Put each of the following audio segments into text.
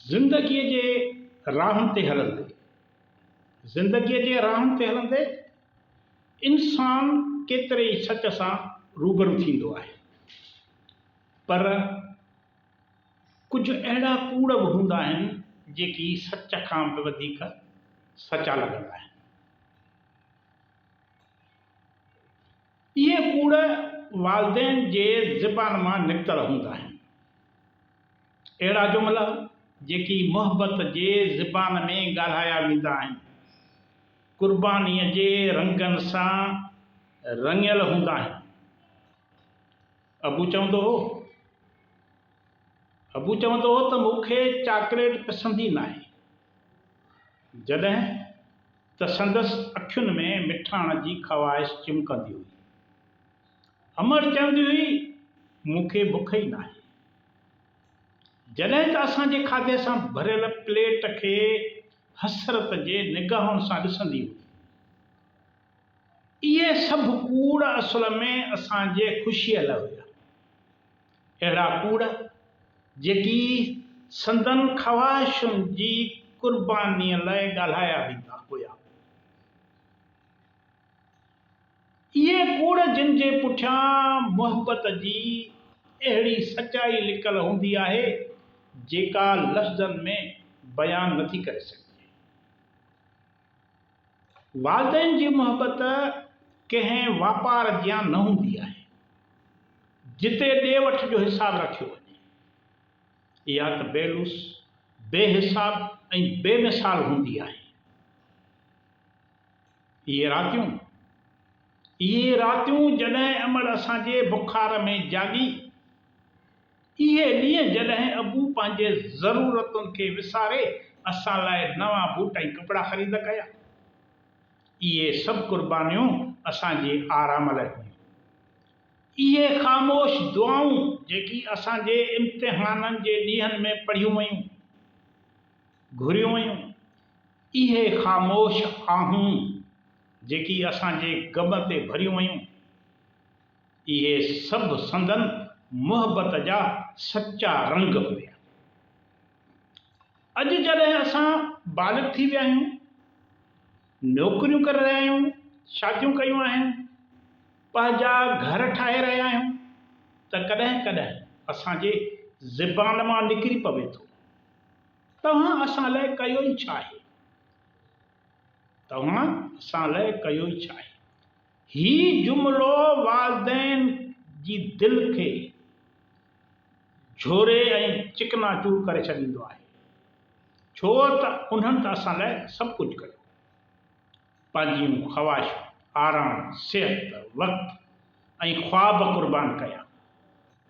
زندگيء جي راهن تي هلندي، زندگيء جي راهن تي هلندي انسان ڪيتري ئي سچ سان روبرو ٿيندو آهي، پر ڪجهه اهڙا ڪوڙ به هوندا آهن، جيڪي سچ کان به وڌيڪ سچا لڳندا آهن. اهي ڪوڙ والدين جي زبان مان نڪتل هوندا آهن. اهڙا جملا جيڪي محبت جي زبان ۾ ڳالهايا ويندا آهن، قربانيء جي رنگن سان رڱيل هوندا آهن. ابو چوندو هو، ابو چوندو هو ته مون کي چاڪليٽ پسند ئي ناهي. جڏهن ته سندس اکين ۾ مٺاڻ جي خواهش چمڪندي هئي. امڙ چوندي هئي، مون کي بک ئي ناهي. جڏهن ته اسان جي کاڌي سان ڀريل پليٽ کي حسرت جي نگاهن سان ڏسندي هئي. اهي سڀ ڪوڙ اصل ۾ اسان جي خوشيء لاء هيا. اهڙا ڪوڙ جيڪي سندن خواهشن جي قربانيء لاء ڳالهايا ويندا هيا. اهي ڪوڙ جن جي پٺيان محبت جي اهڙي سچائي لڪل هوندي آهي جيڪا لفظن ۾ بيان نٿي ڪري سگهجي. والدين جي محبت ڪنهن واپار جيان نه هوندي آهي، جتي ڏي وٺ جو حساب رکيو وڃي. اها ته بي لوث، بي حساب ۽ بي مثال هوندي آهي. اهي راتيون، اهي راتيون جڏهن امڙ اسان جي بخار ۾ جاڳي. اهي ڏينهن جڏهن ابو پنهنجي ضرورتن کي وساري اسان لاء نوان بوٽ ۽ ڪپڙا خريد ڪيا. اهي سڀ قربانيون اسان جي آرام لاء هيون. اهي خاموش دعائون جيڪي اسان جي امتحانن جي ڏينهن ۾ پڙهيون ويون، گهريون ويون، اهي خاموش آهون جيڪي اسان جي غم تي ڀريون ويون. اهي سڀ سندن محبت جا سچا رنگ هيا. اڄ جڏهن اسان بالغ ٿي ويا آهيون، نوڪريون ڪري رهيا آهيون، شاديون ڪيون آهن، پنهنجا گهر ٺاهي رهيا آهيون ته ڪڏهن ڪڏهن اسان جي زبان مان نڪري پوي ٿو، توهان اسان لاء ڪيو ئي ڇا آهي؟ توهان اسان لاء ڪيو ئي ڇا آهي؟ هي جملو والدين جي دل کي جهوري ۽ چڪنا چور ڪري ڇڏيندو آهي ڇو ته انهن ته اسان لاء سڀ ڪجهه ڪيو. پنهنجيون خواهشون، آرام، صحت، وقت ۽ خواب قربان ڪيا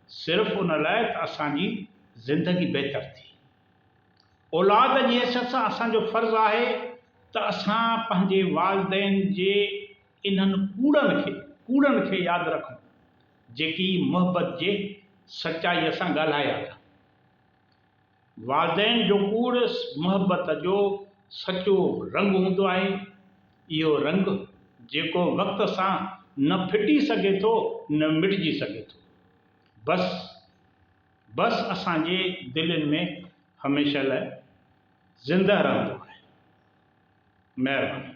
صرف ان لاء ته اسان جي زندگي بهتر ٿئي. اولاد جي حيثيت سان اسان جو فرض آهي ته اسان پنهنجي والدين جي انهن ڪوڙن کي ڪوڙن کي ياد رکون جيڪي محبت جي سچائيء سان ڳالهايا ٿا. والدين جو ڪوڙ محبت جو سچو رنگ هوندو آهي، اهو رنگ جيڪو وقت سان نه ڦٽي سگهي ٿو نه مٽجي سگهي ٿو. بس! بس اسان جي دلين ۾ هميشه لاء زنده رهندو آهي مهرباني.